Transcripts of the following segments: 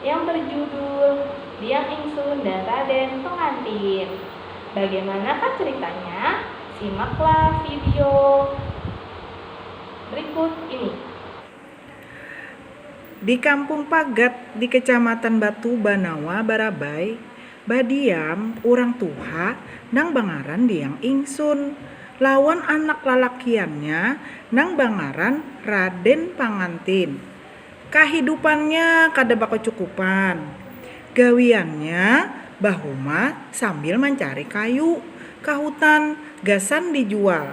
yang berjudul Diang Ingsun dan Raden Pengantin. Bagaimanakah ceritanya? Simaklah video berikut ini. Di Kampung Pagat di Kecamatan Batu Banawa, Barabai, badiam urang tuha nang bangaran Diang Ingsun lawan anak lalakiannya nang bangaran Raden Pangantin. Kahidupannya kada bakacukupan. Gawiannya bahumah sambil mancari kayu ka hutan gasan dijual.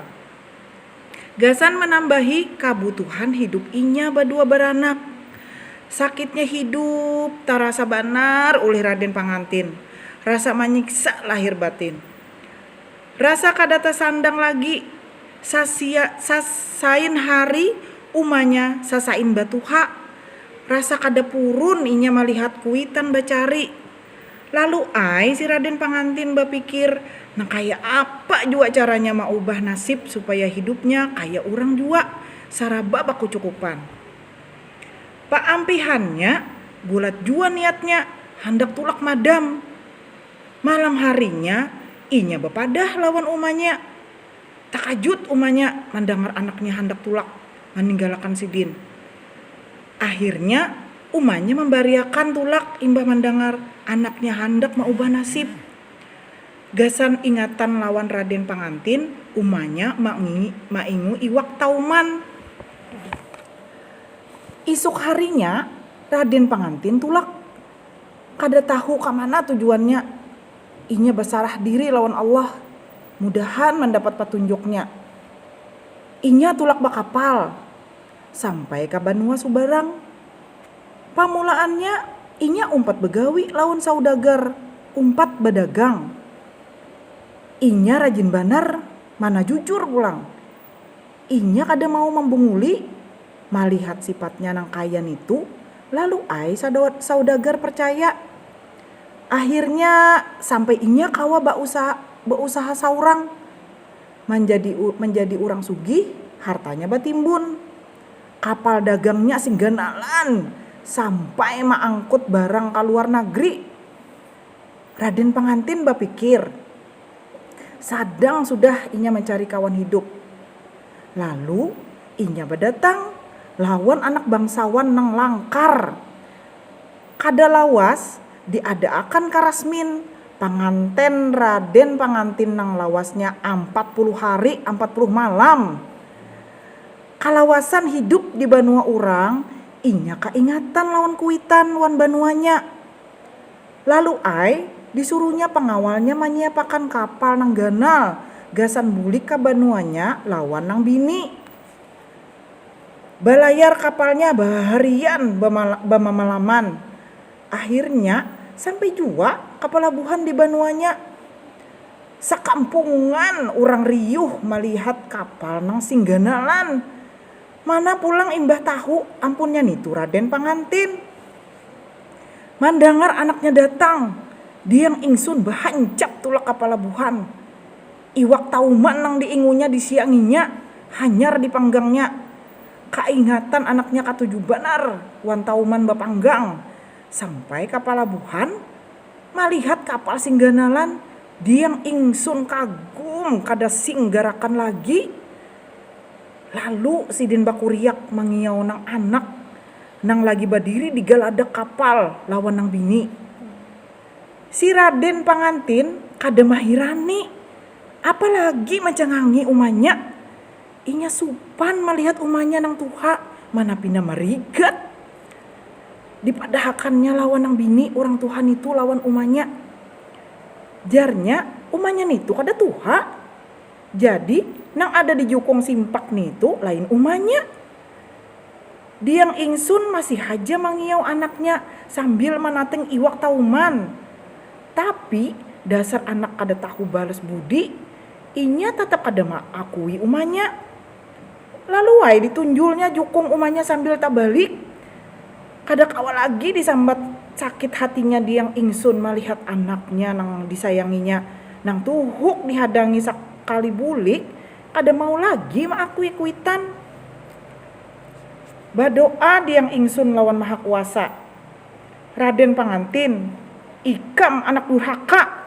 Gasan manambahi kabutuhan hidup inya badua baranak. Sakitnya hidup tarasa banar ulih Raden Pangantin. Rasa manyiksa lahir batin. Rasa kada tasandang lagi, sasia sasain hari umanya sasain batuha. Rasa kada purun inya malihat kuitan bacari. Lalu ai si Raden Pangantin bapikir nang kaya apa jua caranya maubah nasib supaya hidupnya kaya urang jua, saraba bakucukupan. Paampihannya bulat jua niatnya, handak tulak madam. Malam harinya, inya bapadah lawan umanya. Takajut umanya mandangar anaknya handak tulak maninggalakan sidin. Akhirnya, umanya mambariakan tulak imbah mandangar anaknya handak maubah nasib. Gasan ingatan lawan Raden Pangantin, umanya maingu iwak tauman. Isuk harinya, Raden Pangantin tulak Kada tahu ka mana tujuannya, inya basarah diri lawan Allah, mudahan mandapat patunjuknya. Inya tulak bakapal, sampai ka banua subarang. Pamulaannya inya umpat bagawi lawan saudagar, umpat badagang. Inya rajin banar, mana jujur pulang. Inya kada mau mambunguli malihat sifatnya nang kaya nitu, lalu ai saudagar parcaya. Akhirnya sampai inya kawa bausaha saurang manjadi manjadi urang sugih, hartanya batimbun. Kapal dagangnya sing ganalan sampai maangkut barang kaluar nagri. Raden Pangantin bapikir. Sadang sudah inya mancari kawan hidup. Lalu, inya badatang lawan anak bangsawan nang langkar. Kada lawas diadaakan ka rasmin panganten Raden Pangantin nang lawasnya ampat puluh hari ampat puluh malam. Kalawasan hidup di banua urang, inya kaingatan lawan kuitan wan banuanya. Lalu ai, disuruhnya pangawalnya manyiapakan kapal nang ganal gasan bulik ka banuanya lawan nang bini. Balayar kapalnya baharian bamamalaman. Akhirnya, sampai jua ka palabuhan di banuanya. Sakampungan urang riuh malihat kapal nang sing ganalan. Mana pulang imbah tahu ampunnya nitu Raden Pangantin. Mandangar anaknya datang, diang ingsun bahancap tulak kapala buhan. Iwak tauman nang diingunya disianginya, hanyar dipanggangnya. Kaingatan anaknya katuju banar wan tauman bapanggang, sampai kapala buhan malihat kapal sing ganalan, diang ingsun kagum kada sing garakan lagi. Lalu sidin bakuriak mangiau nang anak nang lagi badiri di galadak kapal lawan nang bini. Si Raden Pangantin kada mahirani, apa lagi mancangangi umanya. Inya supan malihat umanya nang tuha mana pina marigat dipadahakannya lawan nang bini urang tuha nitu lawan umanya. Jarnya, umanya nitu kada tuha. Jadi, nang ada di jukung simpak nitu lain umanya. Diang ingsun masih haja mangiyau anaknya sambil manating iwak tauman. Tapi, dasar anak kada tahu balas budi, inya tatap kada maakui umanya. Lalu ai ditunjulnya jukung umanya sambil tabalik, kada kawa lagi disambat sakit hatinya Diyang Ingsun malihat anaknya nang disayanginya nang tuhuk dihadangi sakali bulik kada mau lagi maakui kuitan. Badoa Diyang Ingsun lawan Maha Kuasa, Raden Pangantin, ikam anak durhaka!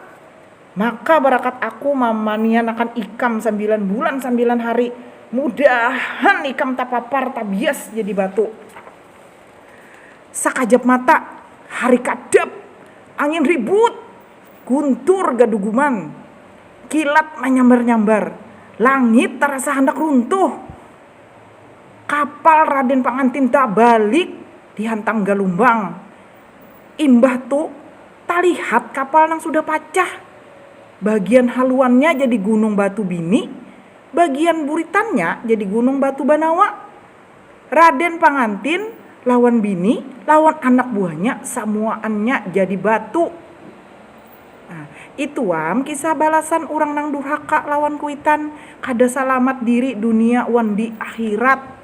Maka barakat aku mamanianakan ikam sambilan bulan sambilan hari, mudahan ikam tapapar tabias jadi batu. Sakajap mata, hari kadap, angin ribut, guntur gaduguman, kilat manyambar-nyambar, langit tarasa handak runtuh, kapal Raden Pangantin tabalik dihantang galumbang, imbah tu. talihat kapal nang sudah pacah. Bagian haluannya jadi gunung batu bini, bagian buritannya jadi gunung batu banawa. Raden Pangantin lawan bini lawan anak buahnya samuaannya jadi batu. Nah, ituam kisah balasan urang nang durhaka lawan kuitan, kada salamat diri dunia wan di akhirat.